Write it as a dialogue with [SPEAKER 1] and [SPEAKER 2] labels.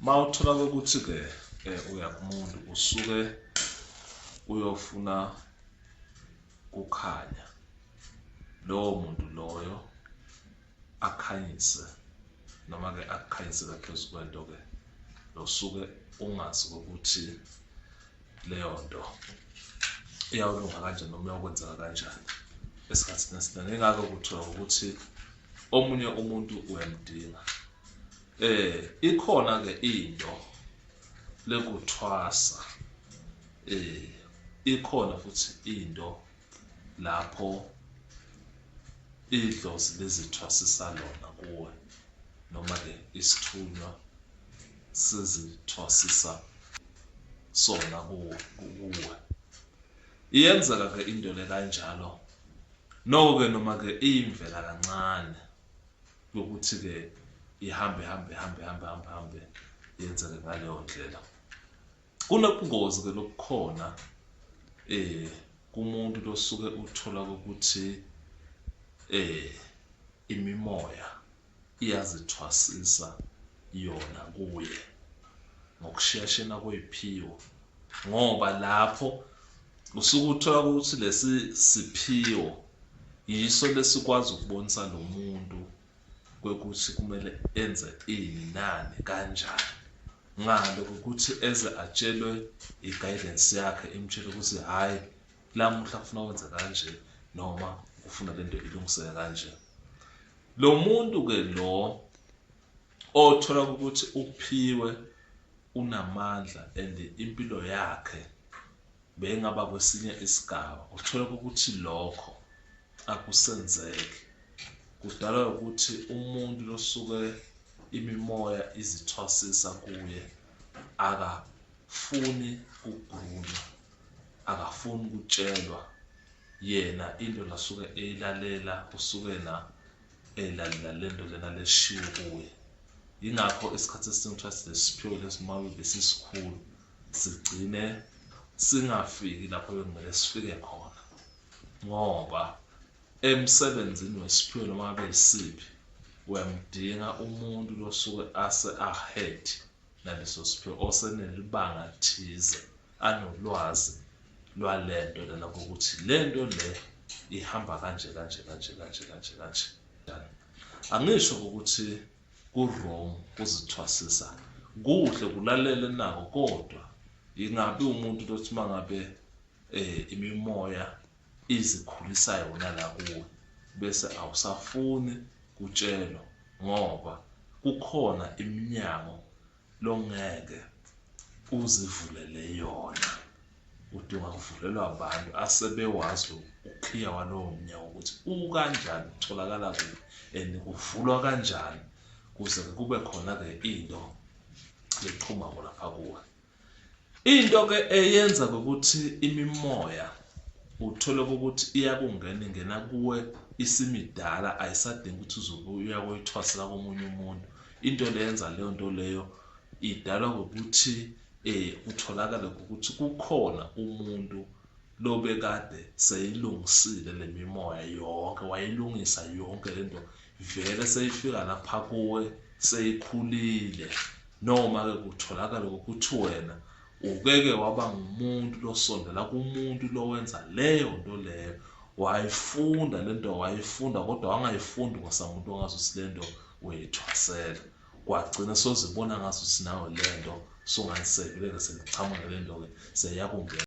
[SPEAKER 1] uma uthola kokuthi-ke um uya kumuntu usuke uyofuna kukhanya lowo muntu loyo akhanyise noma-ke akukhanyise kaphezu kwento-ke nosuke ungazi ukuthi leyo nto iyawulunga kanjani noma uyakwenzeka kanjani esikhathini esiningi engake kuthiwa ukuthi omunye umuntu uyamdinga Eh ikhona ke into lekuthwasa eh ikhona futhi into lapho idlozi lizithwasisa lona kuwe noma ke isithunywa sizithwasisa sona kuwe iyenzeka ke into le kanjalo noko ke noma ke iyimvela kancane yokuthi-ke ihambe hambe hambe hambe hambe hambe yenzeke ngaleyo ndlela kunobungozi-ke lobukhona eh kumuntu losuke uthola ukuthi eh imimoya iyazithwasisa yona kuye ngokusheshena kweyiphiwo ngoba lapho usuke uthola ukuthi lesi siphiwo yiso lesikwazi ukubonisa lo muntu kwekuthi kumele enze ini nani kanjani ngalo ukuthi eze atshelwe i-guidance yakhe imtshele ukuthi hhayi lamuhla kufuna wenze kanje noma ufuna lento ilungiseke kanje lo muntu-ke lo Othola ukuthi uphiwe unamandla and impilo yakhe beyingaba kwesinye isigaba uthola ukuthi lokho akusenzeki kudalwa ukuthi umuntu losuke imimoya izithwasisa kuye akafuni kugunywa akafuni ukutshelwa yena into lasuke eyilalela usukena elalila eh, lento lena leshiwo kuye yingakho isikhathi esiningi kuthiwa sinesiphiwo lesimame besisikhulu sigcine singafiki lapho bekumele sifike khona ngoba emsebenzini wesiphiwo noma abe yisiphi uyamdinga umuntu losuke ase ahead naleso siphiwo osenelibanga lithize anolwazi lwalento lena kokuthi lento le ihamba kanje kanje kanje kanje kanje kanje angisho ukuthi ku-wrong kuzithwasisa kuhle kulalela nako kodwa ingabe umuntu lothi mangabe eh imimoya izikhulisa yona la kuwe bese awusafuni kutshelwa ngoba kukhona iminyango longeke uzivulele yona udinga kuvulelwa abantu asebewazi ukhiya walowo mnyango ukuthi ukanjani utholakala kuphi and kuvulwa kanjani kuze kube khona-ke into eqhumako lapha kuwe Into ke eyenza ukuthi imimoya uthole ukuthi iyakungena ingena kuwe isimidala ayisadingi ukuthi uzobuya koyithwasela komunye umuntu into leyenza leyo nto leyo idalwa ngokuthi eh kutholakale ukuthi kukhona umuntu lobekade seyilungisile lemimoya yonke wayilungisa yonke lento ivele seyifika lapha kuwe seyikhulile noma-ke kutholakale ukuthi wena ukeke waba ngumuntu losondela kumuntu lowenza leyo nto leyo wayifunda le nto wayifunda kodwa wangayifundi kwasamuntu ongazi ukuthi le nto uyithwasela kwagcina sozibona ngazi ukuthi nawe le nto sungayisekeleke seliqhamuke le nto-ke seyakungena